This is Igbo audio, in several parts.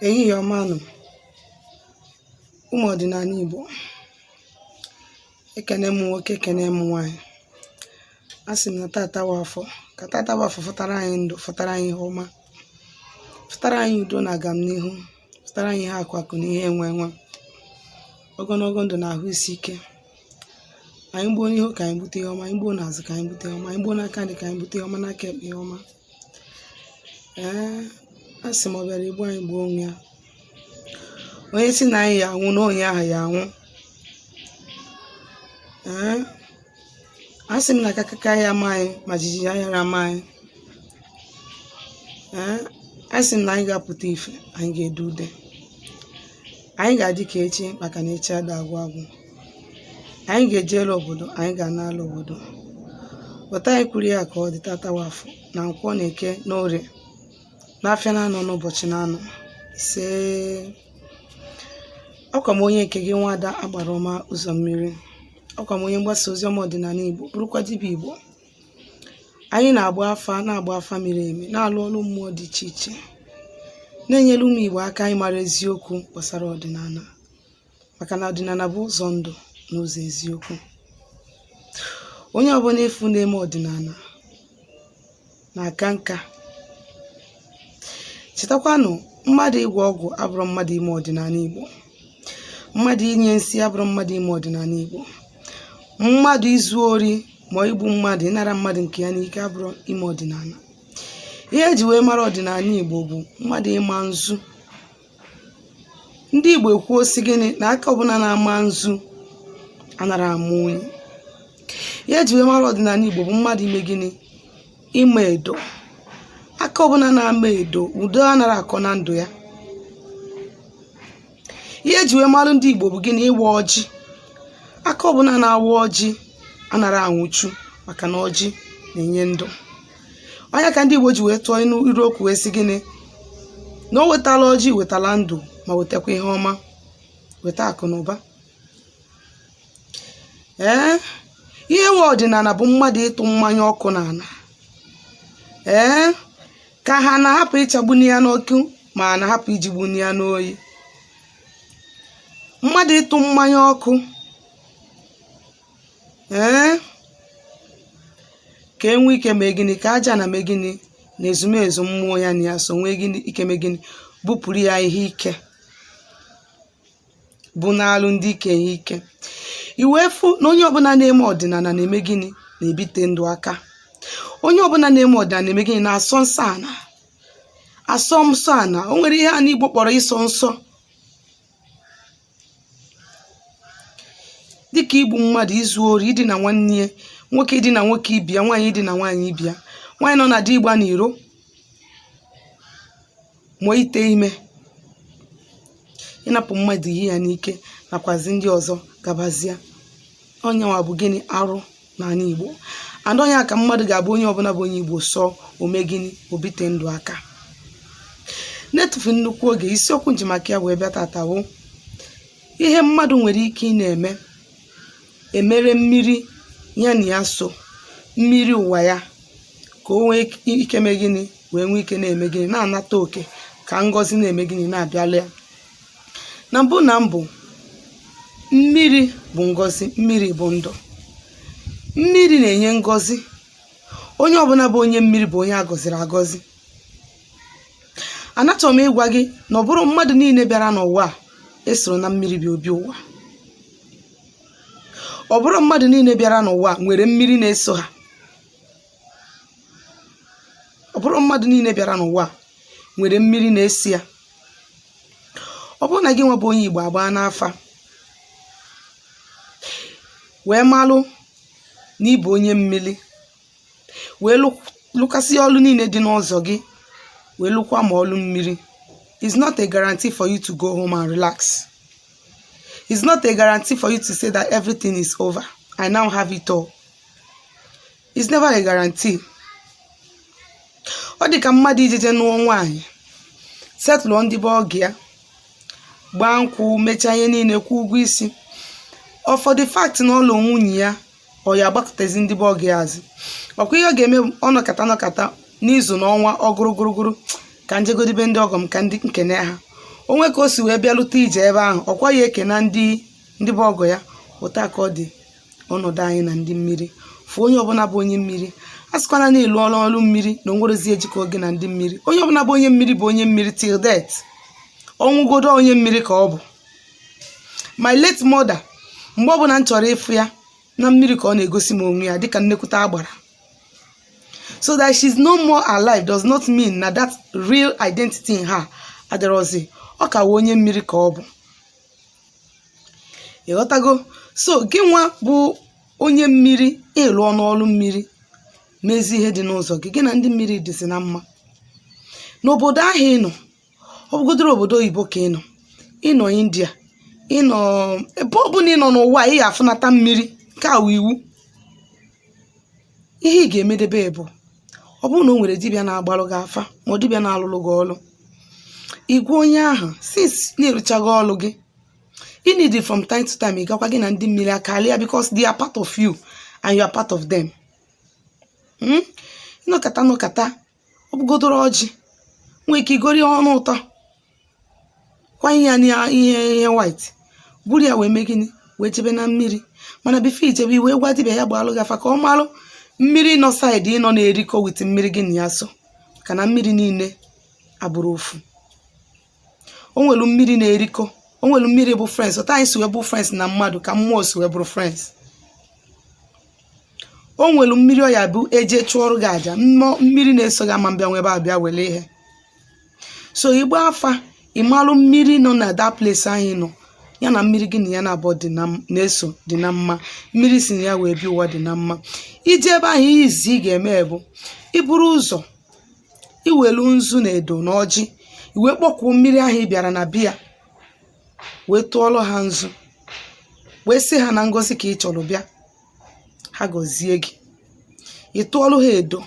Ehihie ọma nụ, ụmụ ọdịnala Igbo. Ekene m nwoke, kene m nwaanyị. A sị m na tata wa afọ, ka tata wa afọ fụtara anyị ndụ, fụtara anyị ihe ọma, fụtara anyị udo na agamnihu, fụtara anyị ihe akụ akụ na ihe enwe enwe, ogologo ndụ na ahụ isi ike. Anyị gbuo n'ihu ka anyị bute ihe ọma, anyị gbuo n'azụ ka anyị bute ihe ọma, anyị gbuo n'aka nri ka anyị bute ihe ọma, n'aka ekpe ihe ọma. ee a sị m ọ bịara igbu anyị gbuo onwe ya onye si na anyị ya anwụ na onye ahụ ya anwụ ee a sị m na akakaka ya ama anyị ma jijiji ayara ama anyị ee a sị m na anyị ga-apụta ife anyị ga-ede ude anyị ga-adị ka echi maka na echi ada agwụ agwụ anyị ga-eje elu obodo anyị ga-ana ala obodo etu anyị kwuru ya ka ọ dị tata wa afọ na nkwọ na eke na orie n'afịa naanọ n'ụbọchị naanọ ise ọkwa m onye nke gị nwada agbara ọma ụzọ mmiri ọkwa m onye mgbasa ozi ọma ọdịnala igbo bụrụkwa dibịa igbo anyị na-agba afa na-agba afa miri emi na-alụ ọrụ mmụọ dị iche iche na-enyere ụmụ igbo aka n'ịmara eziokwu gbasara ọdịnala maka na ọdịnala bụ ụzọ ndụ na ụzọ eziokwu onye ọbụla ị fụ na-eme ọdịnala na-aka nka chetakwanụ mmadụ ịgwọ ọgwụ abụrụ mmadụ ime ọdịnala Igbo mmadụ inye nsị abụrụ mmadụ ime ọdịnala Igbo mmadụ izu ori ma igbu mmadụ ịnara mmadụ nke ya n'ike abụrụ ime ọdịnala ihe eji wee mara ọdịnala Igbo bụ mmadụ ịma nzu ndị Igbo ekwuo sị gịnị na aka ọbụla na-ama nzu anara ama unyi ihe eji wee mara ọdịnala Igbo bụ mmadụ ime gịnị ịma edo aka ọbụla na-ama edo udo anara akọ na ndụ ya ihe eji wee mara ndị Igbo bụ gịnị ịwa ọjị aka ọbụla na-awa ọjị anara anwụchu maka na ọjị na-enye ndụ ọ ya ka ndị Igbo ji wee tụọ ilu okwu wee sị gịnị na o wetala ọjị wetala ndụ ma wetakwa ihe ọma weta akụ na ụba ee ihe nwe ọdịnala bụ mmadụ ịtụ mmanya ọkụ n'ala ee ka ha na-ahapụ ịchagbuni ya n'ọkụ ma ha na-ahapụ ijigbuni ya n'oyi mmadụ ịtụ mmanya ọkụ ee ka enwe ike mee gịnị ka Ajana mee gịnị na ezumezu mmụọ ya na ya so nwee gịnị ike mee gịnị bupụrụ ya ihe ike bụ n'alụ ndị ike ihe ike i wee fụ na onye ọbụla na-eme ọdịnala na-eme gịnị na-ebite ndụ aka onye ọbụla na-eme ọdịnala na-eme gịnị na-asọ nsọ ana asọ nsọ ana o nwere ihe ana Igbo kpọrọ ịsọ nsọ dịka igbu mmadụ izu ori idina nwanne ya nwoke idina nwoke ibe ya nwaanyị idina nwaanyị ibe ya nwaanyị nọ na di ịgba n'iro ma ite ime ịnapụ mmadụ ihe ya n'ike nakwazị ndị ọzọ gabazịa onye nwa bụ gịnị arụ n'ala Igbo and onye ka mmadụ ga-abụ onye ọbụla bụ onye Igbo sọ o mee gịnị o bite ndụ aka na-etufu nnukwu oge isiokwu m ji maka ya wee bịa tata bụ ihe mmadụ nwere ike ịna-eme emere mmiri ya na ya so mmiri ụwa ya ka o nwee ike mee gịnị wee nwee ike na-eme gịnị na-anata oke ka ngọzi na-eme gịnị na-abịala ya na mbụ na mbụ mmiri bụ ngọzi mmiri bụ ndụ mmiri na-enye ngọzi onye ọbụla bụ onye mmiri bụ onye agọziri agọzi and achọrọ m ịgwa gị na ọ bụrọ mmadụ niile bịara n'ụwa a soro na mmiri bịa obi ụwa ọ bụrọ mmadụ niile bịara n'ụwa nwere mmiri na-eso ha ọ bụrọ mmadụ niile bịara n'ụwa nwere mmiri na-eso ya ọ bụrụ na gị nwa bụ onye Igbo agbaa n'afa wee malụ na ị bụ onye mmiri wee lụkasịa ọlụ niile dị n'ụzọ gị wee lụkwa ma ọlụ mmiri is not a guarantee for you to go home and relax is not a guarantee for you to say that everything is over I now have it all is never a guarantee ọ dị ka mmadụ ijeje nụọ nwaanyị settle ndị be ọgọ ya gbaa nkwụ mechaa ihe niile kwụọ ụgwọ isi for the fact na ọ lụọ nwunye ya ọ ya-agbakụtazi ndị be ọgọ ya azụ ọ kwa ihe ọ ga-eme bụ ọ nọkata nọkata n'izu na ọnwa ọgụrụgụrụgụrụ ka m jegodi be ndị ọgọ m ka m je kene ha o nwee ka o si wee bịa lute ije ebe ahụ ọ kwa ọ ya-ekene ndị ndị be ọgọ ya otu a ka ọ dị ọnọdụ anyị na ndị mmiri fụ onye ọbụla bụ onye mmiri asịkwana na ị lụọ ọrụ mmiri na o nwerọzi ihe jikọ gị na ndị mmiri onye ọbụla bụ onye mmiri bụ onye mmiri till death ọ nwụgodu onye mmiri ka ọ bụ my late mother mgbe ọbụla m chọrọ ịfụ ya na mmiri ka ọ na-egosi m onwe ya dịka nnekwute agbara so that she's no more alive does not mean na that real identity in her adịrọzi ọ ka wụ onye mmiri ka ọ bụ ịghọtago so gị nwa bụ onye mmiri ị lụọnụ ọrụ mmiri mezi ihe dị n'ụzọ gị gị na ndị mmiri dịzi na mma n'obodo ahụ ị nọ ọ bụgodoro obodo oyibo ka ị nọ ị nọ india ị nọ ebe ọ bụla ị nọ n'ụwa ị ga-afụnata mmiri nke a wụ iwu ihe ị ga-emedebe bụ ọ bụrụ na o nwere dibịa na-agbalụ gị afa ma ọ dibịa na-alụlụ gị ọlụ ị gwa onye ahụ since na ị rụchago ọlụ gị ị need it from time to time ị gakwa gị na ndị mmiri akalịa because they are part of you and you are part of them Mm? ị nọkata nọkata ọ bụgodoro ọjị nwee ike igoro ọnụ ụtọ kwanye ya na ihe ihe white buru ya wee mee gịnị wee jebe na mmiri mana before i jebe i wee gwa dibịa ya gbaalụ gị afa ka ọ malụ mmiri nọ side ị nọ na-erikọ with mmiri gị na ya so ka na mmiri niile abụrọ ofu o nwelu mmiri na-erikọ o nwelu mmiri bụ friends otu anyị si wee bụ friends na mmadụ ka mmụọ si wee bụrụ friends o nwelu mmiri ọ ya-abụ e je chụọrụ gị aja mmụọ mmiri na-eso gị ama mbịa n'ebe a bịa wele ihe so ị gbaa afa ị malụ mmiri nọ na that place ahụ ị nọ ya na mmiri gị na ya na abụọ dị na m- na-eso dị na mma mmiri si na ya wee bịa ụwa dị na mma i je ebe ahụ ihe izi ị ga-eme bụ i buru ụzọ i welu nzu na edo na ọjị i wee kpọkuo mmiri ahụ ị bịara na be ya wee tụọlụ ha nzu wee sị ha na ngozi ka ị chọrọ bịa ha gọzie gị ị tụọlụ ha edo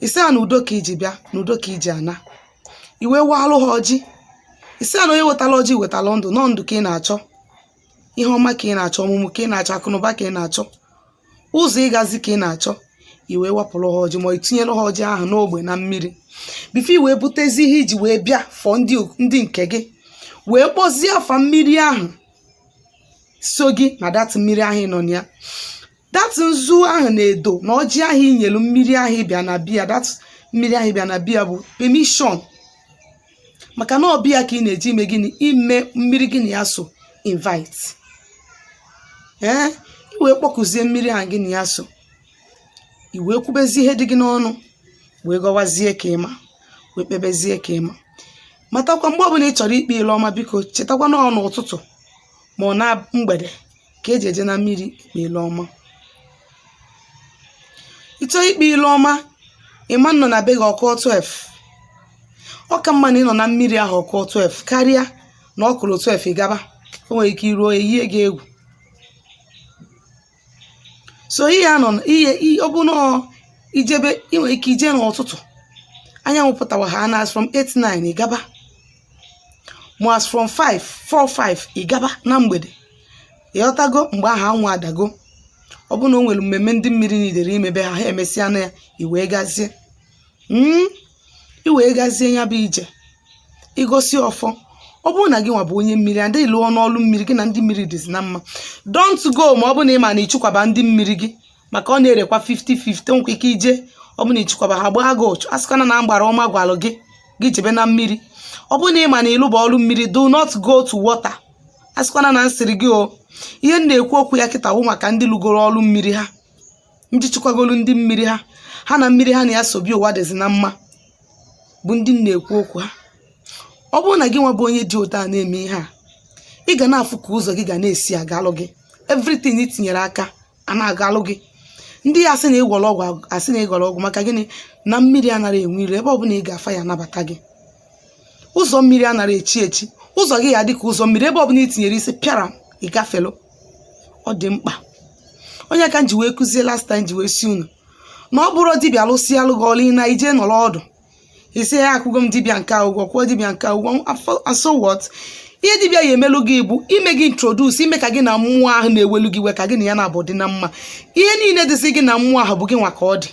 ị sị ha na udo ka i ji bịa na udo ka i ji ana i wee waalụ ha ọjị ị sị ha na onye wetalụ ọjị wetalụ ndụ na ọ ndụ ka ị na-achọ ihe ọma ka ị na-achọ ọmụmụ ka ị na-achọ akụnụba ka ị na-achọ ụzọ ịgazi ka ị na-achọ i wee wapụrụ ha ọjị ma ị tinyere ha ọjị ahụ n'ogbe na mmiri before i wee butezi ihe i ji wee bịa for ndị ndị nke gị wee kpọzie afa mmiri ahụ so gị na that mmiri ahụ ị nọ na ya that nzu ahụ na edo na ọjị ahụ i nyelu mmiri ahụ ị bịa na be ya that mmiri ahụ ị bịa na be ya bụ permission maka na ọ be ya ka ị na-eji eme gịnị eme mmiri gị na ya so invite ee i wee kpọkụzie mmiri ahụ gị na ya so i wee kwubezie ihe dị gị n'ọnụ wee gọwazie ka ị ma wee kpebezie ka ị ma matakwa mgbe ọ bụla ị chọrọ ikpe ile ọma biko chetakwa na ọ n'ụtụtụ ma ọ na mgbede ka eji eje na mmiri ikpe ilu ọma ị chọọ ikpe ilu ọma ị ma-anọ na be gị ọ kụọ 12 ọ ka mma na ị nọ na mmiri ahụ ọ kụọ 12 karịa na ọ kụrụ 12 ị gaba o nwere ike i ruo e yie gị egwu so ihe a nọ ihe i- ọ bụ na ọ i jebe ị nwere ike ije n'ụtụtụ anyanwụ pụtawa ha na as from 8 9 ị gaba ma as from 5 4 5 ị gaba na mgbede ị ghọtago mgbe ahụ anwụ adago ọ bụrụ na o nwere mmemme ndị mmiri nidere ime be ha ha emesịanụ ya i wee gazie Mm, i wee gazie ya bụ ije igosi ọfọ ọ bụrụ na gị nwa bụ onye mmiri adịghị lụọ n'ọlụ mmiri gị na ndị mmiri dịzi na mma don't go ma ọ bụrụ na ị ma na ị chịkwaba ndị mmiri gị maka ọ na-erekwa 50-50 o nwekwa ike ije ọ bụrụ na ị chịkwaba ha gbaa gị uchu asịkwana na mgbara ọma gwalụ gị gị jebe na mmiri ọ bụrụ na ị ma na ị lụba ọlụ mmiri do not go to water asịkwana na m sịrị gị o ihe m na-ekwu okwu ya kịta bụ maka ndị lụgoro ọlụ mmiri ha ndị chịkwagoro ndị mmiri ha ha na mmiri ha na ya so bịa ụwa dịzi na mma bụ ndị m na-ekwu okwu ha ọ bụrụ na gị nwa bụ onye dị otu a na-eme ihe a ị ga na-afụ ka ụzọ gị ga na-esi agalụ gị everything i tinyere aka a na-agalụ gị ndị ya-asị na ị gwọrọ ọgwụ ag- asị na ị gwọrọ ọgwụ maka gịnị na mmiri anaghị enwe iro ebe ọbụla ị gaa fa ya-anabata gị ụzọ mmiri anaghị echi echi ụzọ gị ya-adị ka ụzọ mmiri ebe ọbụla i tinyere isi pịara ị gafelụ ọ dị mkpa ọ nya ka m ji wee kụzie last time ji wee sị unu na ọ bụrọ dibịa alụsịalụ gị ọlụ na i je nọrọ ọdụ ị sị ha akwụgo m dibịa nke a ụgwọ kwụọ dibịa nke a ụgwọ afọ- and so what ihe dibịa ya emelu gị bụ ime gị introduce ime ka gị na mmụọ ahụ na-ewelu gị iwe ka gị na ya naabọ dị na mma ihe niile dịsị gị na mmụọ ahụ bụ gị nwa ka ọ dị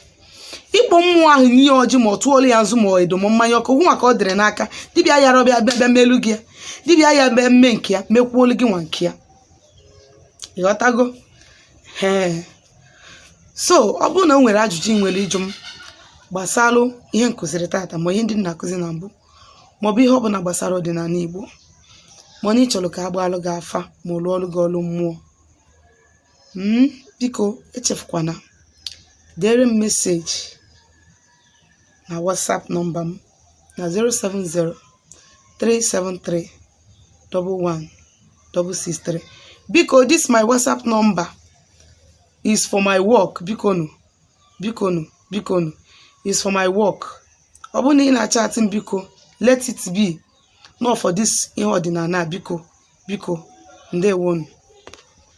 ịkpọ mmụọ ahụ nye ya ọjị ma ọ tụọlụ ya nzu ma ọ edo ma mmanya ọkụ gị nwa ka ọ dịrị n'aka dibịa yarọ bịa bịa bịa melu gị ya dibịa ya bịa mee nke ya mekwuolu gị nwa nke ya ị ghọtago ee so ọ bụrụ na o nwere ajụjụ ị nwere ịjụ m gbasalụ ihe m kụziri tata ma ihe ndị m na-akụzi na mbụ maọbụ ihe ọbụla gbasara ọdịnala Igbo ma ọ na ị chọrọ ka a gbaalụ gị afa ma ọ lụọlụ gị ọlụ mmụọ Mm, biko echefukwana dere m meseji na WhatsApp nọmba m na 070 373 11 663 biko this my WhatsApp nọmba is for my work bikonu bikonu bikonu is for my work ọ bụrụ na ị na-achatị m biko let it be nnọọ for this ihe ọdịnala a, biko biko ndewonu